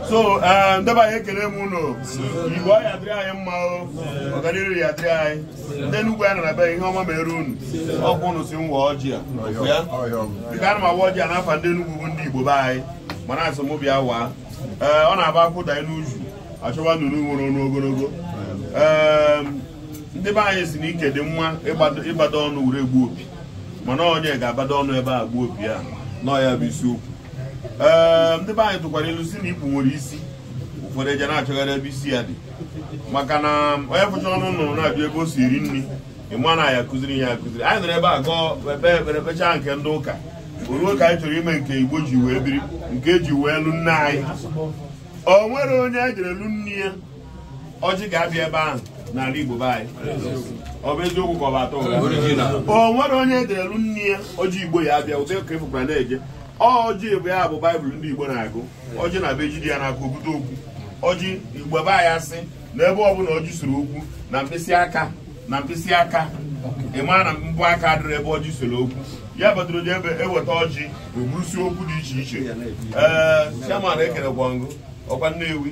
so eh, ndị be anyị ekele m ụnụ o igbo ya adịrị anyị mma o ọganihu ya adịrị anyị ndị Enugu anyị nọ na be ihe ọma mere unu ọkwa ụnụ sị m waa ọjị a dịka ana m awa ọjị a n'afa ndị Enugu bụ ndị igbo be anyị mana asị m bịa waa eh, ọ na-abụ akwụ danye n'uju achọwa nnụnụ nwere ọnụ ogologo eh, ndị be anyị si na ike dị mma ịgbado ọnụ were egbu opi mana onye ga-agbado ọnụ ebe a gbuo opi a na ọ ya bụ isiokwu ee ehm, ndị be anyị tụkwara ilu si na ikpu nwere isi ụfọdụ eje na-achọgharị ebe isi ya dị maka na onye fụcha ọnụ nnụnụ na-ajụ ebe o si eri nri ịma na ya kụziri ya akụziri anyị nọrọ ebe a gụọ ekpere kpechaa nke ndị ụka o ruo ka anyị chọrọ ime nke igbo ji wee biri nke eji wee lụ nne anyị o nwere onye e jere lụ nne ya ọjị ga-abịa ebe ahụ n'ala Igbo be anyị ọ bụ eziokwu ka ọ bụ atọ ụgha o nwere onye e jere lụ nne ya ọjị Igbo ya abịa ụdị ka efukwara na-eje ọjị bụ ya bụ baịbụl ndị Igbo na-agụ ọjị na-abụ ejide ya n'aka o bute okwu ọjị Igbo be anyị asị na ebe ọbụla ọjị sere okwu na mkpịsị aka ị maa na mbọ aka adịrọ ebe ọjị sere okwu ya kpatara o ji abụ eweta ọjị eburusi okwu dị iche iche ee chairman ekelekwa m gị ọkwa Nnewi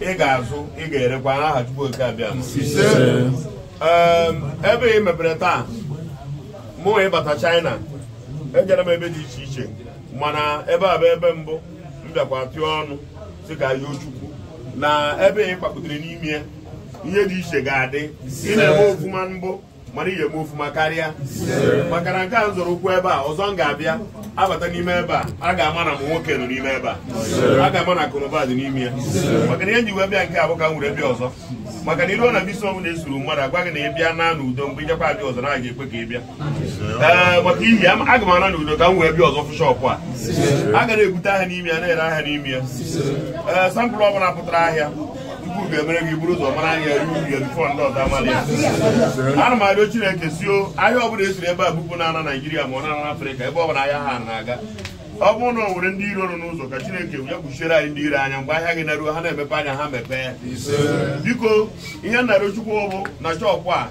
ị ga-azụ ị ga-erekwa n'aha Chukwu oke abịa ebe ị mepere taa mụ ịbata China ejere m ebe dị iche iche mana ebe a bụ ebe mbụ m bịakwa tụọ ọnụ sị ka a yọọ Chukwu na ebe ị kpakputere n'ime ya ihe dị iche ga-adị ị na-eme ofuma mbụ mana ị ga-eme ofuma karịa maka na nke a m zọrọ ụkwụ ebe a ọzọ m ga-abịa abata n'ime ebe a a ga-ama na nwoke nọ n'ime ebe a a ga-ama na akụnụba dị n'ime ya maka na ihe m ji wee bịa nke a bụ ka m were bịa ọzọ maka na i ruo na bisi ọbụla esuru mmadụ agwa gị na ị bịa naa n'udo mgbe ị jakwa abịa ọzọ na a ga-ekwe ka ị bịa ee maka ihi ya aga m ana n'udo ka m wee bịa ọzọ fụ shọpụ a a ga na-ebute ahịa n'ime ya na-ere ahịa n'ime ya ee sampụl ọbụla pụtara ahịa Chukwu ga-emere gị buru ụzọ mara anya ruo ya before ndị ọzọ amara ya ana m arịọ chineke si o ahịa ọbụla esiri ebe a bupụ na-ana naijiria ma ọ na-ana afrịka ebe ọbụla ahịa ha na-aga ọ bụrụ na o nwere ndị iro nọ n'ụzọ ka chineke ya kpuchiere anyị ndị iro anya mgbe ahịa gị naruo ha na-emepe anya ha mepee ya biko ihe m na-arịọ Chukwu bụ na shọpụ a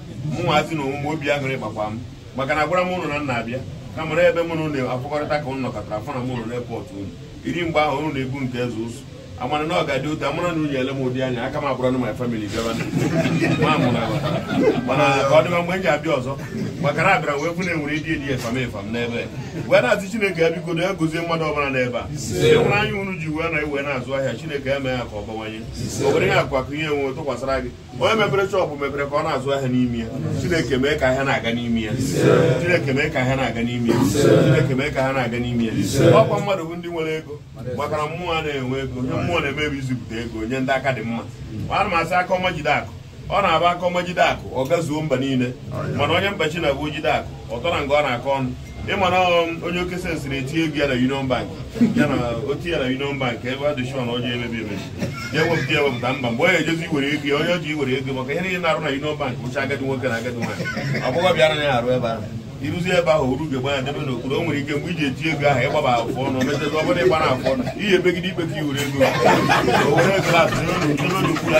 mụnwazi na onwe m obi aṅụrị gbakwa m maka na agwara m ụnụ na m na-abịa na mara ebe mụ na ụnụ afụkọrịta ka ụnụ nọkọtara afọ na mụ ụnụ na airport ụnụ iri mgbe ahụ ụnụ na-egbu nke eze ụzụ amara na ọ ga-adị otu amara na unyi ele m ụdị anya aka m abụrụ na my family bịaba mana ka ọ dịba mgbe m ji abịa ọzọ maka na abịara wee fụ na enwere ịdị edi efam efam n'ebe wee na-asị chineke ya biko ya gozie mmadụ ọbụla n'ebe a enwere anya unu ji wee na iwe na-azụ ahịa chineke ya mee ya ka ọ bawanye o were ya akụ akụ ihe enwe tụkwasịra gị onye mepere shọpụ mepere ka ọ na-azụ ahịa n'ime ya chineke mee ka ahịa na-aga n'ime ya chineke mee ka ahịa na-aga n'ime ya chineke mee ka ahịa na-aga n'ime ya ọkwa mmadụ bụ ndị nwere ego maka na mmụọ a na-enwe ego ihe mmụọ na-eme bụ izipụta ego nye ndị aka dị mma ana m asị aka ọma jide akụ ọ na-aba aka ọma jide akụ ọ gazuo mba niile mana onye mba chi na-abụ jide akụ ọ tọrọ nga ọ na-akọ ọnụ ị ma na um, onye oke sensị na-etinye ego ya na Union Bank ya na o ti ya na Union Bank ebe a dị sure na ọjọọ emebi emebi ya ewepụta ya ewepụta mba mgbe ọ ya-ejezi iwere ego ya onye ọjọọ iwere ego maka ihe niile na-arụ na Union Bank bụcha agadi nwoke na agadi nwaanyị agbọghọbịa anaghị arụ ebe ahụ i ruzie ebe ahụ oru ga-egba ya debe n'okpuru o nwere ike mgbe i ji eti ego ahụ ị gbaba afọ ọnụ mechezi ọ bụrụ ị gbara afọ ọnụ ihe ebegide ikpe ka iwere ego o were ego na atụnye ụlọ ntụrụ ụlọ ukwu ya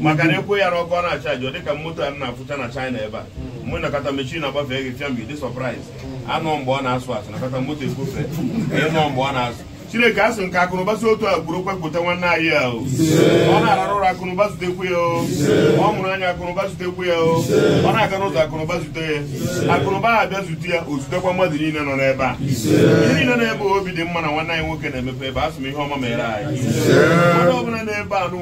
maka na ekwu ya n'ọkụ ọ na-achaji ọ dịka moto a na-afụcha na China ebe a mgbe ị na-akọta mechin agbafe gị fịa mgbe dị sọpraịz anụ mgbe ọ na-asụ asụ ị na-akọta moto ekwufe ịnụ mgbe ọ na-asụ chineke asị m ka akụnụba si otu a gburu kpepụta nwanne anyị ya o ọ na-ararụ ụra akụnụba zutekwu ya o ọ mụrụ anya akụnụba zutekwu ya o ọ na-aga n'ụzọ akụnụba zute ya akụnụba ha abịa zute ya o zutekwa mmadụ niile nọ n'ebe a ihe niile nọ ebe obi dị mma na nwanne anyị nwoke na-emepe ebe a sị m ihe ọma mere anyị mmadụ ọbụla n'ebe a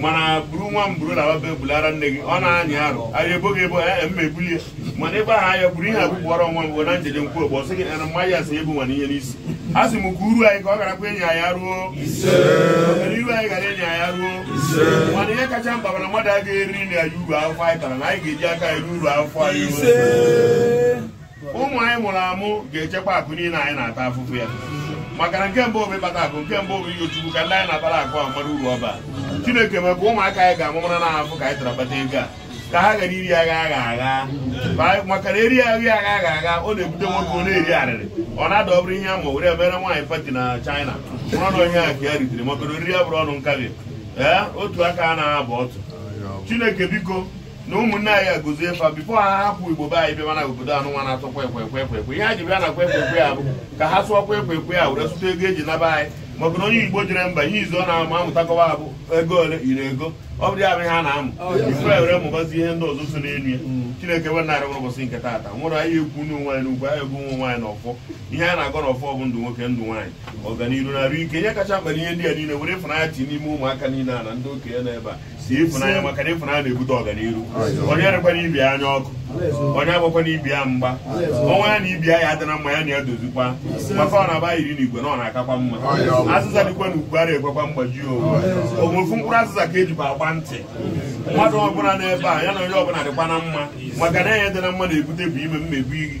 mana buru nwa m buru lawa be bulara nne gị ọ na-anyị arụ anyị ebo gị ebo ee mma ebulie mana ịgba ha ya buru ihe a bụbụọrọ nwa m bụ na njeje nkwu ogbo sị gị na mmanya asị ebu nwana ihe n'isi a sị m ka uru anyị ka ọ garakwa enyi anyị aruo mana iru anyị gara enyi anyị aruo mana ihe kacha mkpa bụ na mmadụ agaghị erinarị anyị uru afụfụ anyị tara na anyị ga-eji aka eri uru afụfụ anyị ụmụ anyị mụrụ amụ ga-echekwa akụ niile anyị na-ata afụfụ ya maka na nke mbụ bụ ịkpata akụ nke abụọ bụ ichekwa ka ndị anyị na-akpara akụ ahụ mara uru ọ ba chineke mee ka ụmụaka anyị ga-amụ mara na afụfụ ka anyị tara kpata ego a ka ha ghara iri aghara aghara maka na e rie aghara aghara ọ na-ebute nwoke ọ na-eri arịrị ọ na-ada ọ bụrụ ihe ama were emere nwaanyị pati na China mụrụ na onye ahụ ka ya ritere maka na oriri ya bụrụ ọnụ nkabi ee otu aka a na-abụ ọtụ chineke biko na ụmụnne anyị agọzie fa bifo ha hapụ igbo be anyị bịaba na obodo anụ nwa na-asụ kwa ekwe ekwe ekwe ihe ha ji bịa na kwa ekwe ekwe ya bụ ka ha sụọ kwa ekwe ekwe ya were sụta ego eji naba anyị maka na onye igbo jere mba ihe izizi ọ na-amụ amụtakwa bụ ego ole iri ego ọ bụrụ ya bụ ihe a na-amụ bifo e were mụbazi ihe ndị ọzọ so n'elu ya chineke we narị nwere ụbọchị nke taata nwere anyị ekwu nụ nwaanyị n'ogu anyị egwu nwa nwaanyị n'ọfọ ihe a na-agọ n'ọfọ bụ ndụ nwoke ndụ nwaanyị ọganiru na arụ ike ihe kacha mkpa ihe ndị a niile were ịfụnanya ti n'ime ụmụaka niile a na ndị okenye nọ ebe a si ịfụnanya maka na ịfụnanya na-ebute ọganiru onye erekwana ibe ya anya ọkụ onye agbakwana ibe ya mgba onye ya na ibe ya adị na mma ya na ya dozikwa maka ọ na-aba iri n'igwe na ọ na-akakwa mma azịza dịkwa n'ukwu ara ekwekwa mgbaji ọ wụ ofu mkpụrụ azịza ka ejikwa agba ntị mmadụ ọbụla n'ebe a ya na onye ọbụla dịkwa na mma maka na anyị adị na mma na-ebute bụ ime mmebi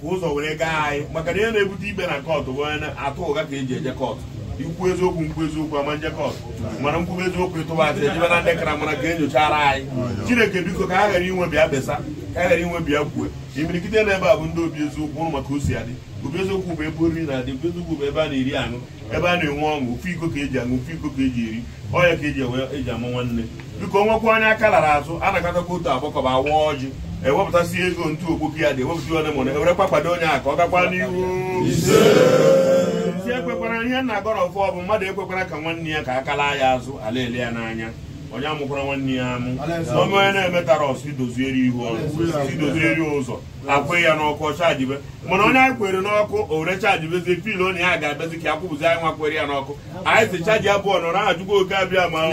ka ụzọ were gaa anyị maka na ihe na-ebute ikpe na kọtụ bụ onye atụ ụgha ka eji eje kọtụ i kwuo eziokwu m kwuo eziokwu a ma eje kọtụ mana m kwube eziokwu ị tụba asị e jebe na ndị kara mara ka enyochara anyị chineke biko ka ha ghara inwe bịa besa ka ha ghara inwe bịa kwue imirikiti na ebe a bụ ndị obi eziokwu ụrụ maka o si adị obi eziokwu bụ ebe oriri na-adị obi eziokwu bụ ebe a na-eri aṅụ ebe a na-enwe ọṅụ ofu iko ka eji aṅụ ofu iko ka eji eri ọ ya ka eji enwe eji ama nwanne biko o nwekwa onye aka lara azụ a na-akatakwa otu agbakọba awa ọjị ewepụtasị ego ntu okpoki ya dị ewepụta one mụna e werekwa kwado onye a ka ọ gakwa n'ihu si ekwekwara ihe nna agọrọ ọfọ bụ mmadụ ekwekwara ka nwanne ya ka aka laa ya azụ a la-ele ya n'anya onye amụkwara nwanne ya amụ na onye na-emetara ọsụ idozieri ihu ọrụ idozieri ụzọ akwụ ya n'ọkụ ọ chajibe mana onye anyị kwere n'ọkụ o were chajibezie full onye ya ga-abịazi ka ya kwụpụzi anyị nwa kwere ya n'ọkụ anyị si chaji apụọ nọrọ aha chukwu oke abịama o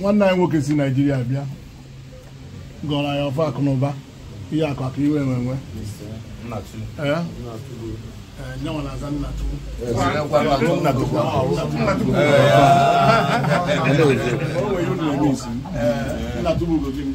nwanne anyị nwoke si naijiria bịa gọrọ anyị ọfọ akụ na ụba ihe akụ akụ ihe enwe enwe nna tubu ugo gịnị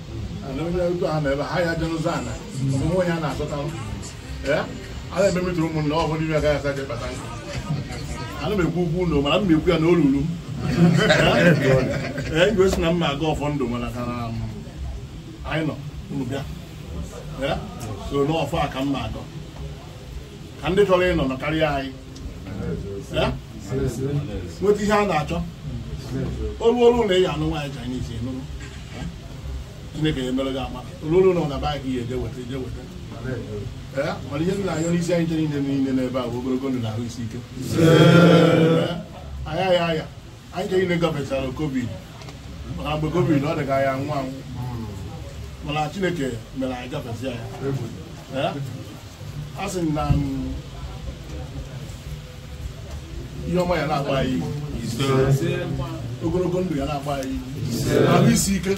na onye otu ahụ n'ebe ha ya jenụzọ ana mgbe nwe ya na-azụta ee a na-ememetụrụ ụmụnna ọ bụrụ ime agaghị asa je kpata nkụ ana m ekwu okwu ụlọ mana m na-ekwu ya na olulu m ee igwe si na m ga-agọ ọfọ ndụ mana ka na anyị nọ unu bịa ee so n'ọfọ a ka m na-agọ ka ndị chọrọ ịnọ nọkarịa anyị Eh? nweta ihe a na-achọ olu olu na ị ya-anụ nwaanyị Chinese enụrụ Eh? Chineke ya-emere gị ama olu olu na ọ na baghị ya eje weta eje weta Eh? mana ihe nna anyị n'isi anyị chere niile niile n'ebe a bụ ogologo ndụ na ahụ isi ike Eh? aya ya aya anyị ncha niile gafechara covid maka mgbe covid ọ dị ka a ya-anwụ anwụ mana chineke mere anyị gafesi ya Eh? a sị na mm, ihe ọma ya na-agba anyị ihu. ogologo ndụ ya na-agba anyị ihu. ahụ isi ike